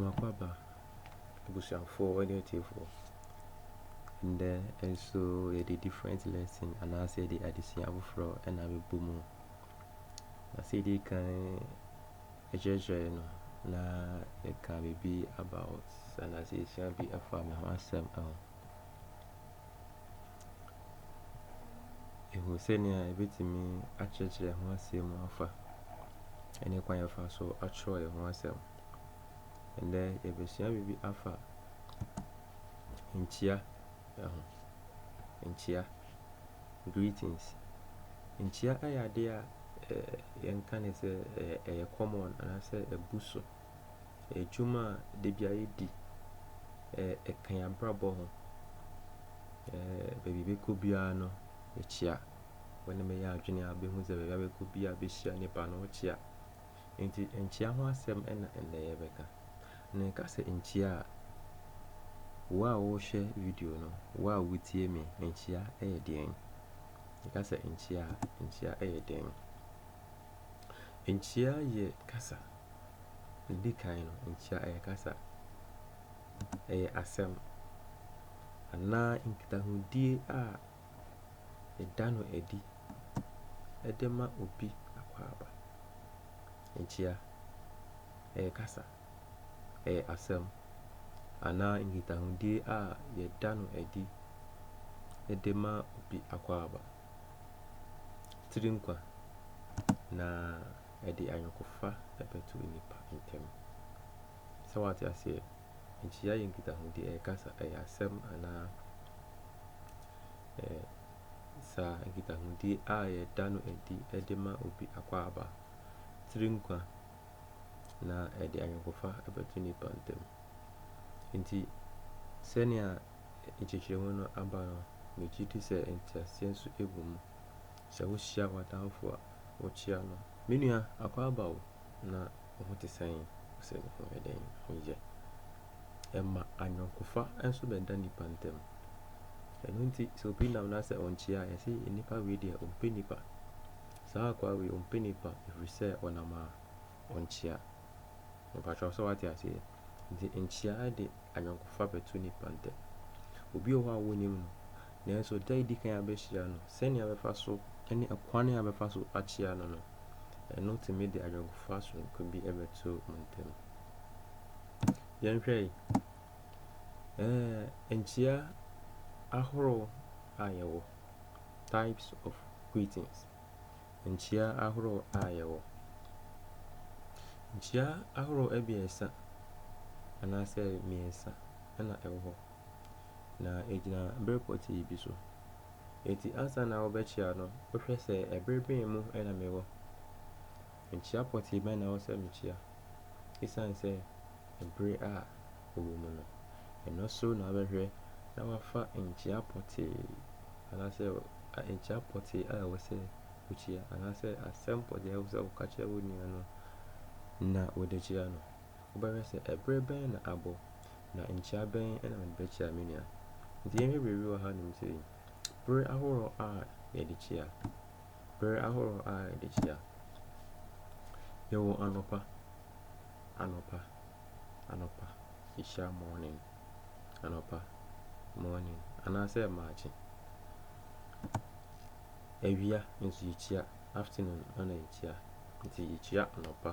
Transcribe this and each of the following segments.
M'akwaaba, abusuafoɔ ne atiefoɔ, ndɛ nso yɛde different lesson anaasɛ yɛde adesua foforɔ na abɛbɔ mu. Na sɛ yɛdi kan kyerɛkyerɛ no na yɛka biribi about anaasɛ yɛsua bi afa me ho asɛm ho. Yɛhunu sɛnea yɛbɛtumi akyerɛkyerɛ ho asɛm afa ɛne kwan yɛfa so atwerɛ yɛn ho asɛm. Ɛnɛ yɛbɛsua biribi afa nkyia ho. Nkyia, greetings. Nkyia yɛ adeɛ a yɛnka no sɛ ɛyɛ common anaasɛ abu so. Adwuma a da biara yɛdi, ɛka yɛn abrabɔ ho. Baabi a yɛbɛkɔ biara no, ɛkyea. Wo ne me yɛ adwene a, wobɛhu sɛ baabi a wobɛkɔ biara wobɛhyia nnipa no, ɛkyea. Enti nkyea ho asɛm na ɛnnɛ yɛrebɛka. Na yɛka sɛ nkyea a, wo a worehwɛ video no, wo a woretie me, nkyea yɛ deɛn? Yɛka sɛ nkyea a, nkyea yɛ deɛn? Nkyea yɛ kasa Ɛdi kan no, nkyia ɛyɛ kasa, ɛyɛ asɛm anaa nkitahodie a yɛda no adi de ma obi akwaaba. Nkyia ɛyɛ kasa, ɛyɛ asɛm anaa nkitahodie a yɛda no adi de ma obi akwaaba. Tiri nkwa na. ɛde ayɔnkofa bɛto nnipa ntam. Sɛ wate aseɛ, nkyia yɛ nkitahodi, ɛyɛ kasa, ɛyɛ asɛm anaa ɛɛ saa nkitahodi a yɛda no adi de ma obi akwaaba, tiri nkwa, na ɛde ayɔnkofa bɛto nnipa ntam. Nti sɛnea nkyekyeremu no aba no, megye di sɛ nteaseɛ nso gu mu. Sɛ wuhyia w'atamfo a, wokyia no. Me nua, akwaaba o, na wo ho te sɛn? Ose me ho yɛ dɛn? Ho yɛ. Ɛma ayɔnkofa nso bɛda nnipa ntam. Ɛno nti, sɛ obi nam na sɛ onkyia a, yɛse nnipa wei deɛ ompɛ nnipa. Saa akwaa wei ompɛ nnipa ɛfiri sɛ ɔnam a, onkyia. Mepakyɛw sɛ woate aseɛ? Nti nkyia de, ayɔnkofa bɛto nnipa ntam. Obi wɔ hɔ a wonnim no, nanso da a edi kan a abehyia no, sɛnea bɛfa so ne kwan a bɛfa so akyia no no, ɛno tumi de ayɔnkofa soronko bi bɛto mo ntam. Yɛnhwɛ yi, ɛɛ nkyia ahorow a yɛwɔ, types of greetings. nkyia ahorow a yɛwɔ. Nkyia ahorow abiɛsa anaasɛ mmiɛnsa na ɛwɔ hɔ, na egyina bere pɔtee bi so. Enti ansa na wobɛkyia no, wohwɛ sɛ bere bɛn mu na mewɔ. Mekyia pɔtee bɛn na ɛwɔ sɛ mekyia esiane sɛ bere a ɔwɔ mu no? Ɛno so na wobɛhwɛ na woafa nkyia pɔtee anaasɛ nkyia pɔtee a ɛwɔ sɛ wokyia anaasɛ asɛm pɔtee a ɛwɔ sɛ woka kyerɛ wo nua no na wode kyia no. Wobɛhwɛ sɛ bere bɛn na abɔ, na nkyia bɛn na mede bɛkyia me nua. Enti yɛnhwɛ biribi wɔ hanom sei, bere ahorow a yɛde kyia. Bere ahorow a ɛde kyea. Yɛwɔ anɔpa, anɔpa, anɔpa, yɛhyia morning, anɔpa, morning, anaasɛ mmaakye. Awia nso yɛkyia, afternoon na yɛkyia. Nti yɛkyia anɔpa.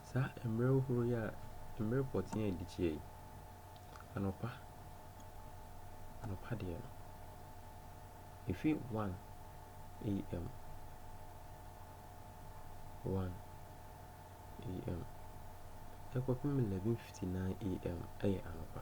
Saa mmerɛ horow yi a mmerɛ pɔtee a ɛdi akyire yi, anɔpa, anɔpa deɛ no, ɛfiri 1 am, 1 am, ɛkɔpem 11:59 am yɛ anɔpa.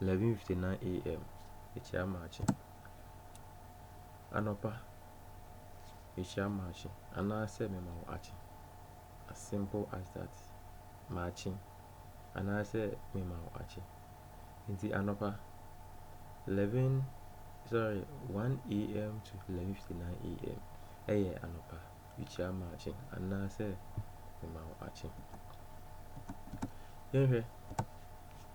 11:59 am, mekyia makye. Anɔpa, mekyia makye anaasɛ mema wo akye. As simple as that. Makye anaasɛ mema wo akye. Nti anɔpa 11 sorry 1 am to 11:59 am ɛyɛ anɔpa mekyia makye anaasɛ mema wo akye. Yɛnhwɛ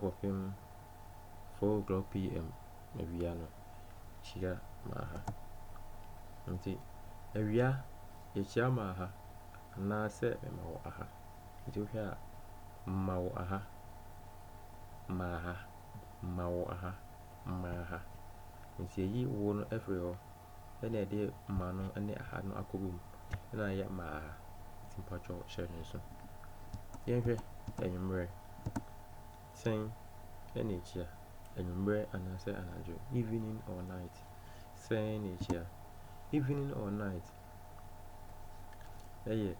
kɔpem 4:00 PM awia no, hyira maa ha. Nti awia yɛhyira maa ha anaasɛ mema wo aha. Nti wohwɛ a, mma wo aha, maa ha, mma wo aha, maa ha. Nti yɛyi wo no firi hɔ. ɛna ɛde ma no ne aha no akɔbɔ mu ɛna ayɛ maa nti mpakyɛw hyɛ no nso yɛnhwɛ anwummerɛ sɛn ɛna ɛkyia anwummerɛ anaasɛ anadwo evening or night sɛn ɛna ɛkyia evening or night ɛyɛ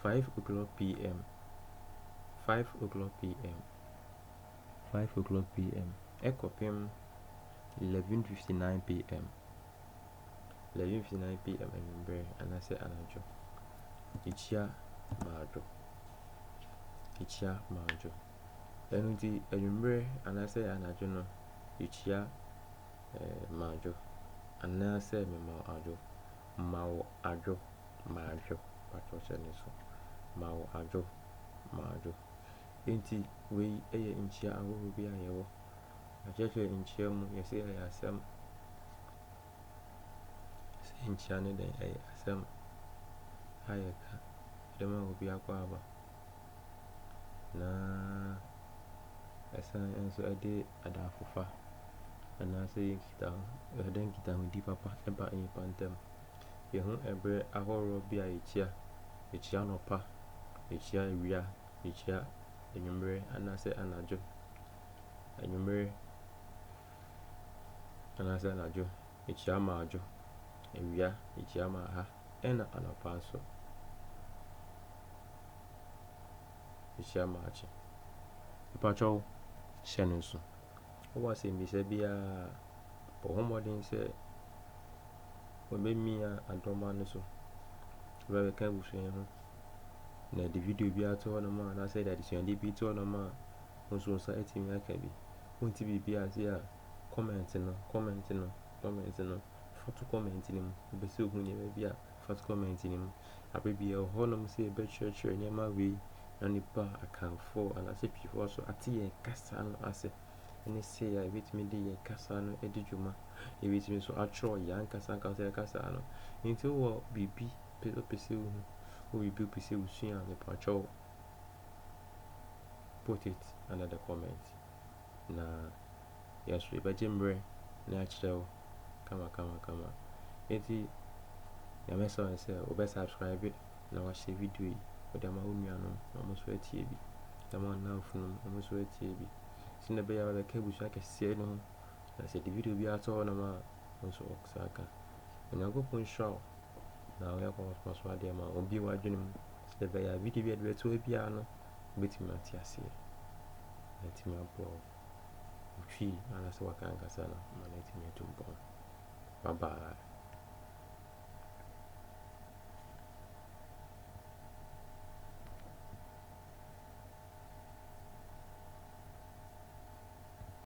5 o'clock pm 5 o'clock pm five o'clock PM. kɔpem eleven fifty nine PM, eleven fifty nine PM anwummerɛ anaasɛ anadwo. Ekyia maadwo, ekyia maadwo. Ɛno nti anwummerɛ anaasɛ anadwo no, ekyia eh, maadwo anaasɛ mema adwo, ma wo adwo, maadwo, patwɔ hyɛ ne so, ma wo adwo, maadwo. Enti wei yɛ nkyia ahorow bi a yɛwɔ. Na kyerɛkyerɛ nkyia mu, yɛse ɛyɛ asɛm. Sɛ nkyia ne dɛn? Ɛyɛ asɛm a yɛka de ma obi akwaaba. Na ɛsan nso ɛde adaafofa anaasɛ yɛ nkitaho ɛde nkitahodi papa ɛba nnipa ntam yɛho ɛberɛ ahoroɔ bi a yɛkyia yɛkyia nɔpa yɛkyia awia mekyia anwummerɛ anaasɛ anadwo, anwummerɛ anaasɛ anadwo, mekyia ma adwo, awia mekyia ma aha, ɛna anɔpa nso mekyia ma akye. Mpakyɛw hyɛ no nso. Wowɔ asɛmmisa biara bɔ ho mmɔden sɛ wɔbɛmia adɔma no so, wobɛka abusua ho. na yɛde video bi ato hɔ nom a anaasɛ yɛde adesuade bi to hɔ nom a wo nso wo nsa atumi aka bi wonte biribi ase a comment no comment no comment no fa to comment no mu wopɛ sɛ ohu nneɛma bi a fa to comment no mu abere bi ɛwɔ hɔ nom sɛ yɛbɛkyerɛkyerɛ nneɛma wei na nipa akanfo anaasɛ piifoɔ so ate yɛn kasa no ase ɛne sɛ a yɛbɛtumi de yɛn kasa no adi dwuma yɛbɛtumi nso atwerɛ yɛn ankasa ankasa yɛn kasa no nti wɔ biribi pe wopɛ sɛ wohu wo biribi wopɛ sɛ wosua a mepatwa kyɛw put it under the comment na yɛn nso yɛbɛgye mmerɛ na yɛakyerɛ wo kama kama kama enti nyame sɛ ɔne sɛ wobɛ subscribe na wahyɛ video yi wode ama wo nuanom na ɔmo nso atie bi de ama wo nnamfonom ɔmo nso atie bi sɛnea ɛbɛyɛ a wobɛka abusua kɛseɛ no ho na sɛ de video bi ato hɔ nom a nso ɔwɔ saa ka. Onyankopɔn nhyira wo na woyɛ akɔkɔsoma so adeɛ ma obie w'adwene mu sɛdeɛ ɛbɛyɛ a video bi a ɛde bɛto hɔ biara no wobɛtumi ate aseɛ na atumi aboa wo wotwi anaasɛ waka ankasa no ma no atumi atu mpɔn bye bye